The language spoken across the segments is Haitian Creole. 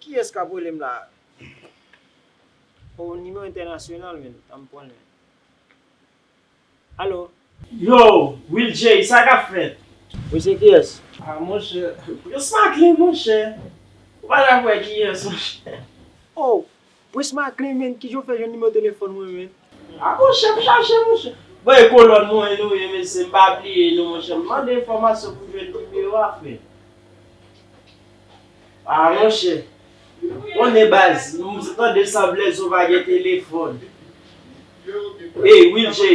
Kiyes kap relem la oh numero international men tanm pwan nen allo. Yo will jay sa kap fèt. Wi se kiyes. Ah monchè prisma clean monchè ou pa janm wè kiyes monchè. Oh Prince Macklin menn kijan w fè jwenn nimewo telefòn mwen menn. Ah bon chèm chache monchè. Bon e kolòn mwen nou ye mesye m pa bliye nou monchè m mande enfòmasyon pou jwenn nimewo a frè ah monchè konnen baz m tande sanblè zo pa gen telefòn ey wilky.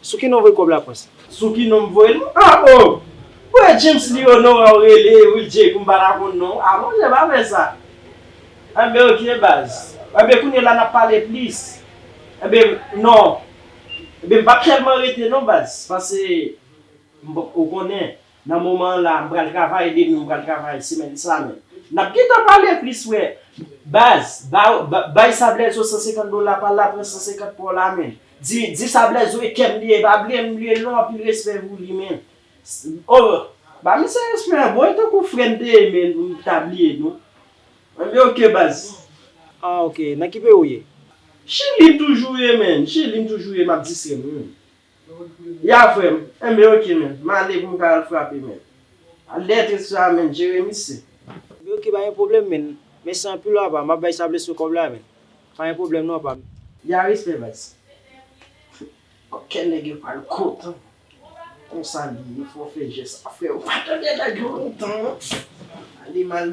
Sou ki non voye kob la prince. Sou ki non m voyel ah oh. Voye James li oh non wè ou rele Will Jay pou m pa ta konn non w ah mon Dieu pa fè sa enben ok baz enben kounye la n ap pale plis enben non enben m p ap tèlman rete non baz pase m bon ou konnen. Nan moman an la mpral travay demen mpral travay semèn sa men nap gentan pale plis wè baz bay sa blèzo 150 dola pal la pran 150 paw la men di sa blèzo e kèm li ye epa bliyem m liyel non anpil respè pou li men oh ba misye respè a bro e tankou frèm te renmen nou mta bliye nou anmweyy ok baz. Ah ok nan ki peyi ou ye? Chili m toujou ye menn chili m toujou ye map distrèm wi menn. Ya frem enben ok men male pou m ka al frape men lettre sa men Jeremie se. Enben ok pa gen pwoblem men mèsi anpil apa map bay sable sou kob la men pa gen pwoblem non apa. Ya respè baz Bon kè nèg yo pral kontan Konsa li ye fò fè jès sa freo pa tande nèg yo lontan non Male mal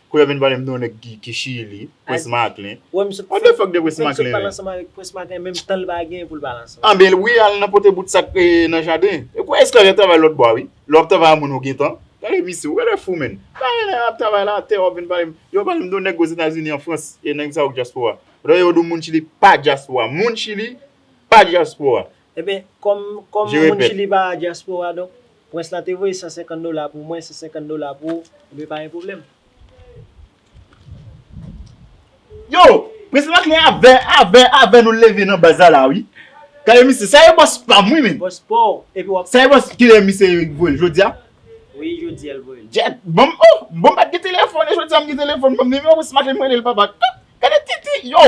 Koulè vin pale m de yon nèg ki chili, Prince Macklin. Wè misye k What the fuck de Prince Macklin menm? Fè misye k pale ansanm avèk Prince Macklin menm tan l pa gen pou l pale ansanm. Anben wi al nan pote bout sak nan jaden. E kouwè esklav yo ap travay lòt bò a wi. Lè wap travay a moun ou gen tan. Gade misye, ou genlè fou menn. Pa gen nèg ap travay la atè wap vin pale m. Yo pale m de yon nèg Ozetazini an Frans e nèg sa yo k dyaspora. Lè yo di w moun chili pa dyaspora. Moun chili pa dyaspora. Eben, kòm moun Chili pa dyaspora, donk, prens lan te voye 150 dola pou mwen, 150 dola pou ou, eben pa gen pwoblèm. Yo! Prens lan klè avè, avè, avè nou leve nan baz la la wi. Gade misye, sa e bòs pa m wi menm. Bòs pa w, epi w ap. Sa e bòs, kilè misye voye l, jodi a? Wi, jodi a l voye l. Jèt, bon m, oh! Bon m pa t gen telefòn e jodi a m gen telefòn, bon m nimewo prens Macklin m rele l papa. Gade titi, yo!